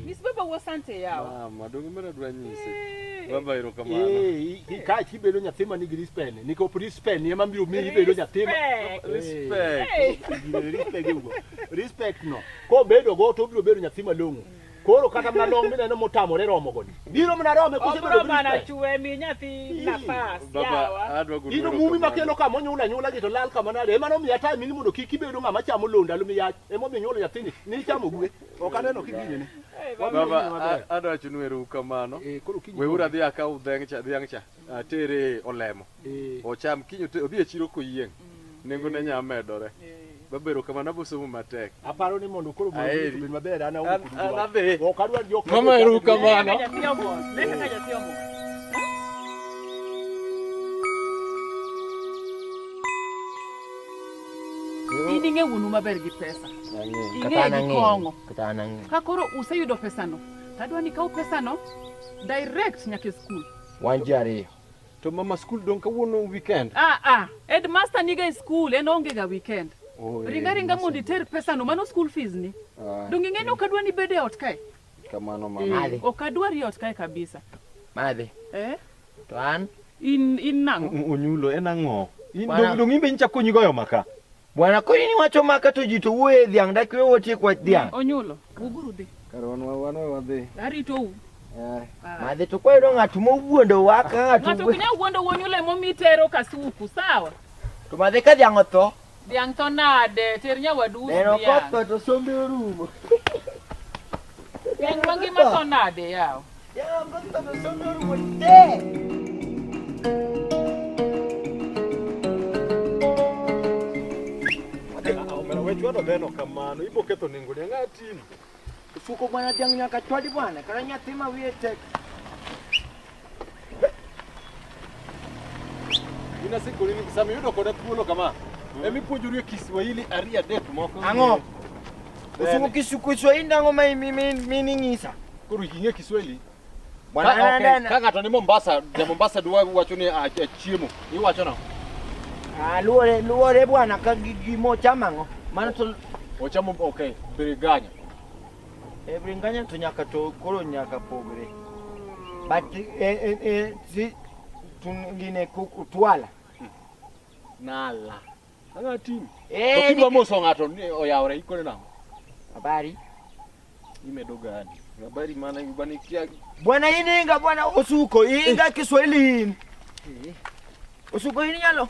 Miss Baba wo sante yao. Mama, dongo mara dwa nyise. Eh. Baba ero kamano. Eh, eh. ka chi bedo nyathi ma nigi respect. Niko respect ni ema biro miyi bedo nyathi. Eh. Respect. Respect ugo. Respect no. Ko bedo go to biro bedo nyathi malong'o. Koro kata mna long mine no motamore romo goni. Biro mna rome kose bedo respect. Bana chwe mi nyathi nafas. Baba, adwa guru. Ino mumi makelo kama nyula nyula gito lal kama nade. Ema no mi ata mini mondo kiki bedo ngama chamo londa lumi yach. Emomiyo nyuolo nyathini nichamo gwe. Ok aneno kigini ni. Baba adwa wachonu erokamano. Eh, Weuru adhi akaw dhiang' cha dhiang' cha atere olemo. Eh. Ocham kiny odhi e chiro koyieng'. Mm. Nengo ne nya medore. Eh. Babero kama nabosomo matek. Aparo ni mondo koro mondo obed maber ana wuok. Ok adwa jok. Mama erokamano. Leka ka jathiyo mo. in ing'e wuonu maber gi pesa ing'e gi kong'o ka koro useyudo pesano tadwa ni kaw pesano direct nyaka e skul wan ji ariyo to mama skul dong kawuono weekend ah, ah. headmaster niga e skul en onge ga weekend oh, ringa ringa mondo iter pesano mano skul fees ni ah, dong ing'e ni ok adwa ni bede ot kae Kamano mama. Madhi. Eh, ok adwar iot kae kabisa. Madhi. Eh? To an? In, in nang'o? Onyulo, en ang'o? Dong' in be inchako nyi goyo maka. Bwana koni ni wacho maka to ji to wuoye dhiang' dak we wotie kwa dhiang'. Onyulo, wuguru dhi. Kar wan wan wadhi. Arito u. Eh. Ah. Madhi to kwa yudo ng'at mowuondo wa ka ng'at. Ng'ato kinya wuondo wonyulo emo mitero kasuku, sawa? To madhi ka dhiang' otho. Dhiang' tho nade? Ter nyawadu us Ero dhiang'. koth to sombe orumo. Dhiang' mangima tho nade yaw? Ero koth to sombe orumo te. Omera wechwado dheno kamano, iboketho nengo ni ang'a tini. Ufuko bwana jangu nyakatwali bwana karanya thima wiye tek. Ina siku lini kisami yudo koda thuolo kama. Mm. Emi puonjori Kiswahili ariya dek moko. Ang'o? Ufuko Kiswahili nango ma mi mi mi ning'isa. Koro ing'e Kiswahili? Bwana Ka- okay, nenda. Kaka to ni Mombasa, ja Mombasa dwa wacho ni ah, ah, chiemo. Iwacho no. Ah, luore luore bwana ka gi- gimo chamango. Mano to Ochamo okay, biriganya. e bringanya to nyaka to koro nyaka pogre. But e e e si tun gine kuku twala. Nala. Ang'a tim. Eh, To kidwa ni- moso ng'ato ni oyawore ikone nang'o? Habari. Imedo gani? Habari maana bwana ikia Bwana ini inga bwana usuko inga Kiswahili ini. Usuko ini nyalo.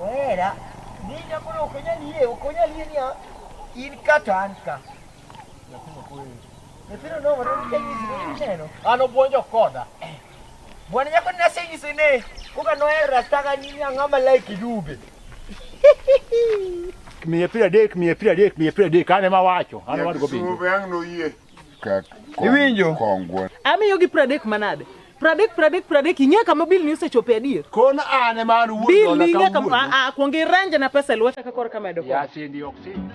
Wera, ninja koro ok onyal yie, ok onyal yie niya, in ka to an ka. Nyithindo nomore nikech nyisi neno. An obwonjo koda. Bwana nyako ni asenyisi ne, koka noher rastaga nini ang'a malaiki dube. Miye piero adek, miye piero adek, miye piero adek, an ema awacho, an awadgo bingo. Sube ang' noyie. Iwinjo? Amiyo gi pradek manade? Pradek, pradek, pradek, ing'e kama bil ni osechope adier? Kon ane man wuod Bil ni ing'e kama, a, a, kuong irange na pesa e lweta ka kor kamedo kwa. Ya sindi ok sindi.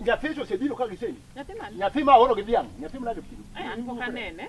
Nyathi to osebiro ka giseni. Nyathi mane? Nyathi ma oro gi dhiang'. Nyathi ma nade kilo? Eh, an pok anene.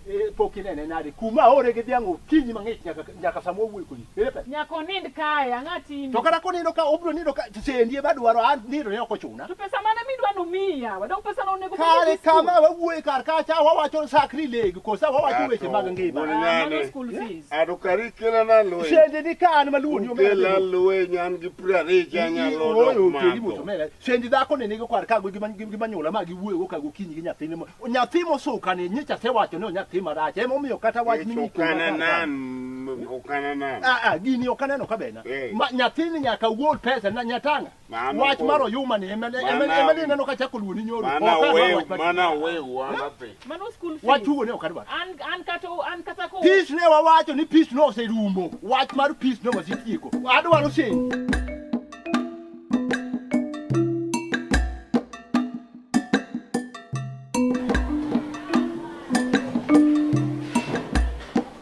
Eh, pok inene nade? Kuma ore gi dhiang' okinyi mang'ich nyaka nyaka sama owuoyo kodi. Ere pesa? Nyaka onind kae, ang'a timi. To kata konindo ka obro nindo ka sendi ema dwaro an nindo ne ok ochuna. To pesa mane midwa ni umiya? Wadong pesa no onego Kare kama wawuoye kar kacha wawacho sakri legi kosa wawacho weche mag ngima. Mano school fees. Adukari kela na loe. Shende ni ka an maluwo ni omera. Kela loe nyan gi prare cha nyalo dok mato. Oyo keli moto mera. Shende dhako ne nigo kwar kago gima gima nyola ma gi wuoyo go kago kinyi gi nyathine mo. Nyathi mo suka ne nyicha se wacho ni nyathi marach. Emo miyo kata wach ni okana nan. Okana nan. Ah ah gini okana no kabena. Eh. Ma nyathini nyaka wuol pesa na nyatanga. wach mar oyuma ni ema ni neno ka chako luoni nyoro mana wew mana wew wanape mano school fees wach ugo ne ok adwar an an kata an kata ko peace ne wawacho ni peace no oserumo wach mar peace no wasitieko adwaro send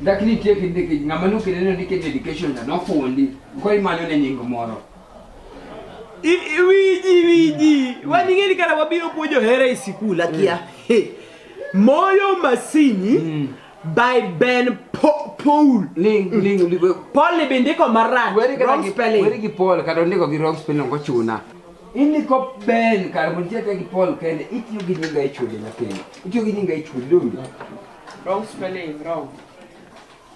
Dak nitie kindiki ng'ama nokele ne ndike dedication na nofundi ko imanyo ne nying moro. Wiji wiji waning'e ni kara wabiro puonjo hera e sikul akia. Mm. Moyo masini mm. by Ben po, Paul. Ling ling mm. Paul ni bindiko marach. Weri gi Paul kata ndiko gi wrong spelling ko chuna. Ini ko ben kar mun tiyo gi Paul kende itiyo gi nyinga e chode nyathini. Itiyo gi nyinga e chode donge? Wrong spelling, wrong.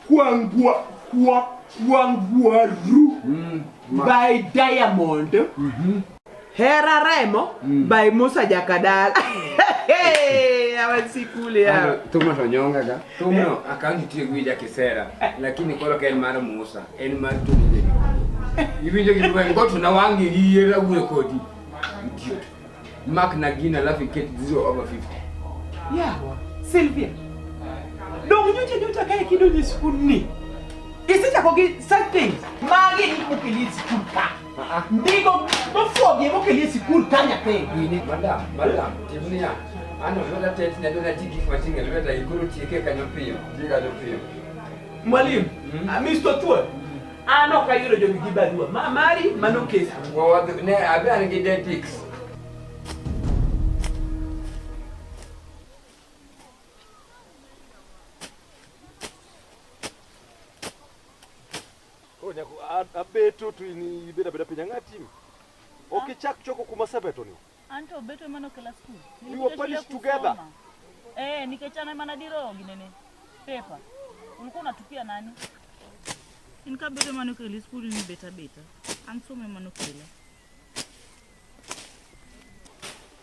Kwangwa kwa kwangwa ru mm, by diamond. Mm -hmm. Hera Remo mm. by Musa Jakadala. Awasikule ya. Tuma tonyonga ga. Tuma akanti tiyo gi Jakisera lakini koro kel mar Musa. En mar tudo de. Iwinjo gi dwang' goto na wangi gi yera wuo kodi. Idiot. Mark na gina alafu iket 0 over 50. Yeah, Sylvia. Dong nyocha nyocha kae kidonje skul ni. Isechako gi such things. Magi ni mokeli e skul ka. Ndigo mofuogi mokeli e skul ka nyathi. Gini madam, madam, timnia. Ano lweta tet ne lweta tigi kwa tinga lweta ikuru tieke kanyo piyo. Tiga do piyo. Mwalimu, mm -hmm. Mr. Tuwe an ok ayudo jogi gi barua ma mari mano kes ne abi an gi detics abeto to in ibeda beda piny ang'atim ok ichak choko kuma sebetoni Anto beto emano kela school. We were punished together. Eh, nikechana emana diro ginene. Paper. Ulikuwa unatupia nani? Inka beto emano kela school ni beta beta. Anso emano kela.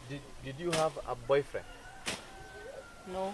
Did, did you have a boyfriend? No.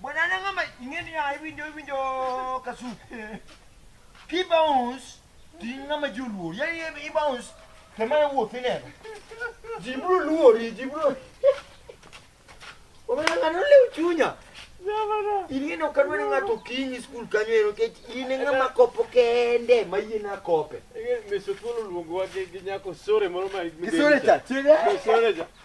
Bwana anang'ama ingeni ya iwinjo iwinjo kasuku. Ki bounce ti ng'ama joluo. Ya i bounce te ma wuoth ineno. Ji bro luori, ji bro. Omiyo ng'ano lew chunya. Ing'eno ka dwani ng'ato kinyi skul kanyo ero kech in ng'ama kopo kende ma yie na kope. Meso thuolo luongo wa gi nyako sore moro ma. Kisore cha. Kisore cha.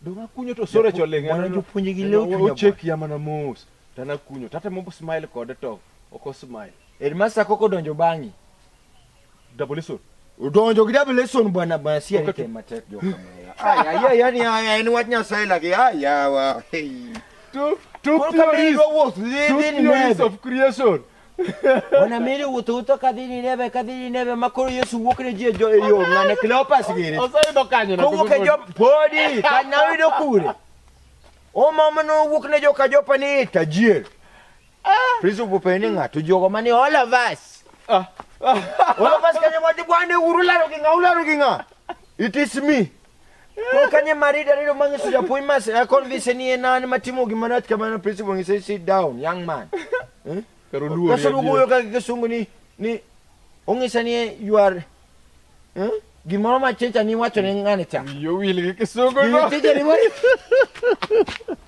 Donga kunyo to sore choling. Wana jopuonje gi leo chunya. Ochek ya mana mos. Tana kunyo. Tata mo smile kode to oko smile. Headmaster koko donjo bangi. Double lesson. Udonjo gi double lesson bwana bwana si okay. Ite matek jo kamera. Aya ya yani aya en wach nyasaye lagi aya wa. Hey. To to theories of creation. Ona mire wututo kadhini neve kadhini neve makoro Yesu wuok ne jie jo eyo ngane Cleopas gire. Osayudo kanyo na. Kowuok e jo podi kana oyudo kure. O mama no wuok ne jo ka jopa ni tajir. Ah. Priso pupe ni ngato jogo mani all of us. Ah. All of us kanyo wadi bwane urularo gi nga ularo gi nga. It is me. Kokanye marida rero mangi suja poi mas ya kon vise ni enani matimo gimanat kamana pisi wangi say sit down young man. Eh? Pero luo. Kaso lugo yo kaki kesungu ni ni ongi sani you are eh? Gimoro ma chencha ni wacho ni ngani cha. Yo wili kesungu no. Ni chencha ni wacho.